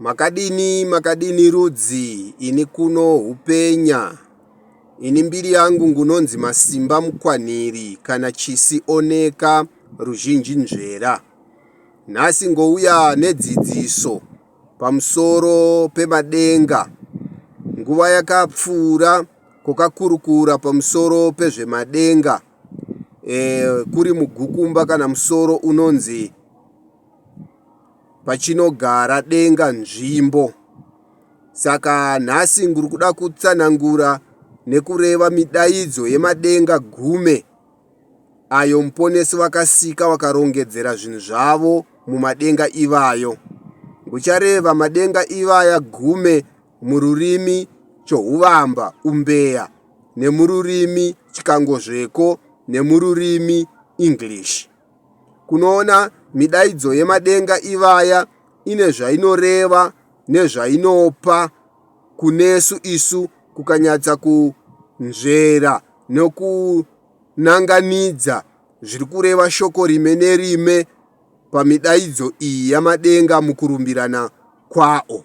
Makadini makadini rudzi ini kuno hupenya ini mbiri yangu ngunonzi masimba mukwanhiri kana chisi oneka ruzhinji nzvera nhasi ngouya nedzidziso pamusoro pemadenga nguva yakapfuura kokakurukura pamusoro pezvemadenga e, kuri mugukumba kana musoro unonzi pachinogara denga nzvimbo. Saka nhasi ndiri kuda kutsanangura nekureva midaidzo yemadenga gume ayo Muponesi vakasika vakarongedzera zvinhu zvavo mumadenga ivayo. Ndichareva madenga ivaya gume mururimi Chohuvamba, Umbeya, nemururimi Chikangozveko nemururimi English. kunoona midaidzo yemadenga ivaya ine zvainoreva nezvainopa kunesu isu kukanyatsa kunzvera nokunanganidza zviri kureva shoko rime nerime pamidaidzo iyi yamadenga mukurumbirana kwawo.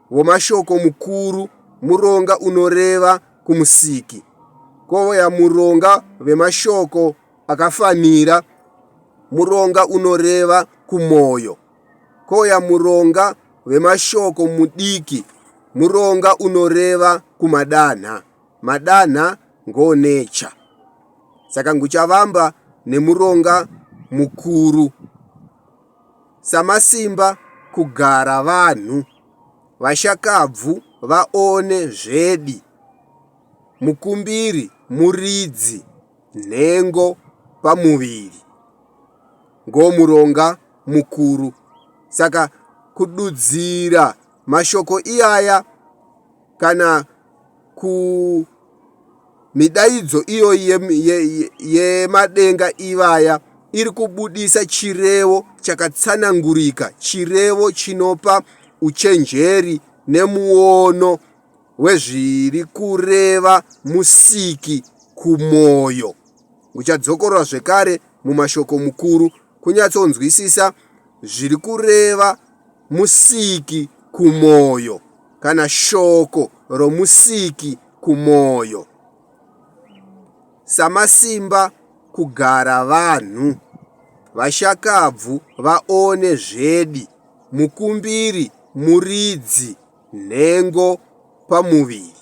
Womashoko mukuru, muronga unoreva kumusiki. Kovoya muronga vemashoko akafanira, muronga unoreva kumoyo. Koya muronga vemashoko mudiki, muronga unoreva kumadanha. Madanha ngoonecha. Saka nguchavamba nemuronga mukuru. samasimba kugara vanhu vashakabvu vaone zvedi mukumbiri muridzi nhengo pamuviri ngo muronga mukuru saka kududzira mashoko iyaya kana kumidaidzo iyoyi yemadenga ivaya iri kubudisa chirevo chakatsanangurika, chirevo chinopa uchenjeri nemuono wezviri kureva Musiki kumwoyo. Uchadzokorora zvekare mumashoko mukuru kunyatsonzwisisa zviri kureva Musiki kumwoyo. kana shoko roMusiki kumwoyo. Samasimba kugara vanhu vashakabvu vaone zvedi mukumbiri muridzi nhengo pamuviri.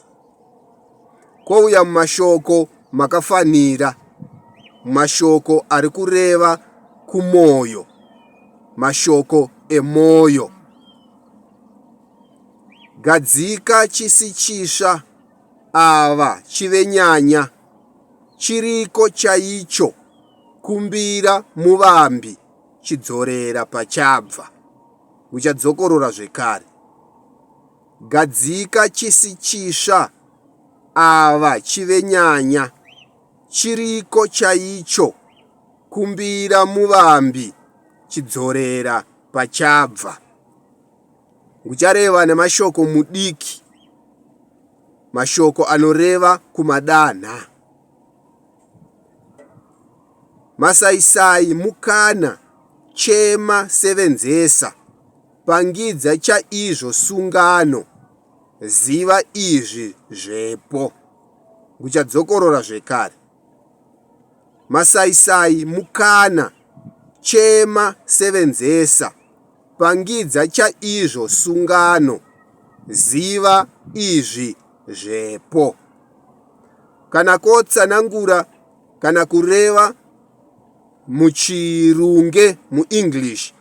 Kwouya mumashoko makafanira, mashoko ari kureva kumwoyo, mashoko emwoyo. Gadzika chisi chitsva ava chive nyanya. Chiriko chaicho kumbira muvambi chidzorera pachabva. Muchadzokorora zvekare. Gadzika chisi chitsva ava chive nyanya. Chiriko chaicho kumbira muvambi chidzorera pachabva. nguchareva nemashoko mudiki mashoko anoreva kumadanha masaisai mukana chema sevenzesa pangidza chaizvo sungano ziva izvi zvepo nguchadzokorora zvekare Masaisai mukana, chema, sevenzesa, pangidza chaizvo sungano, ziva izvi zvepo. Kana ko tsanangura kana kureva muchirunge muEnglish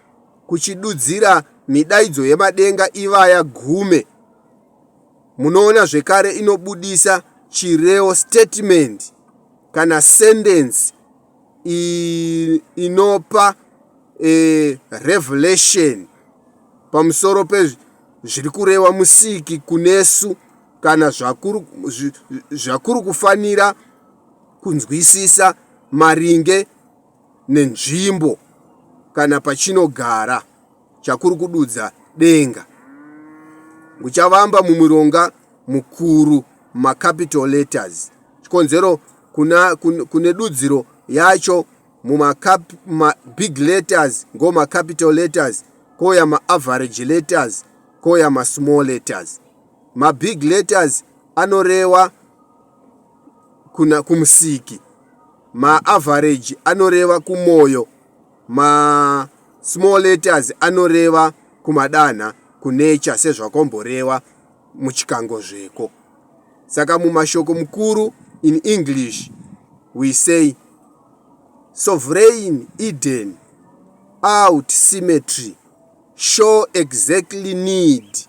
kuchidudzira midaidzo yemadenga ivaya gume. Munoona zvekare inobudisa chireo statement kana sentence inopa e, revelation pamusoro pezviri kurewa musiki kunesu kana zvakuri kufanira kunzwisisa maringe nenzvimbo kana pachinogara. chakuri kududza denga nguchavamba mumuronga mukuru macapital letters chikonzero kuna, kun, kune dudziro yacho mumabig letters ngo macapital letters kouya maaverage letters kouya masmall letters mabig letters anoreva kuna kumusiki maaverage anoreva kumwoyo ma small letters anoreva kumadanha kunature sezvakomboreva muchikango zveko saka mumashoko mukuru in english we say sovereign eden out symmetry show exactly need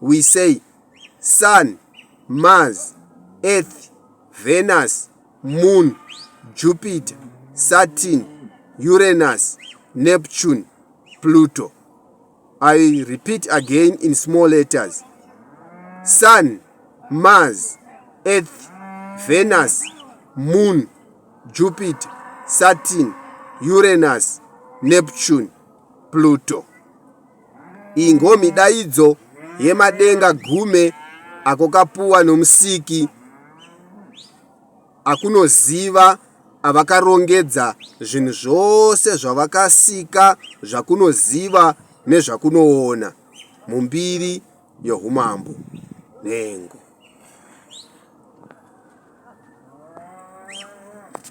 we say Sun, Mars, Earth, Venus, Moon, Jupiter, Saturn, Uranus, Neptune, Pluto. I repeat again in small letters. Sun, Mars, Earth, Venus, Moon, Jupiter, Saturn, Uranus, Neptune, Pluto. ingomi daidzo yemadenga gume ako kapuwa nomusiki akunoziva avakarongedza zvinhu zvose zvavakasika zvakunoziva nezvakunoona mumbiri yohumambo nhengo Thank you.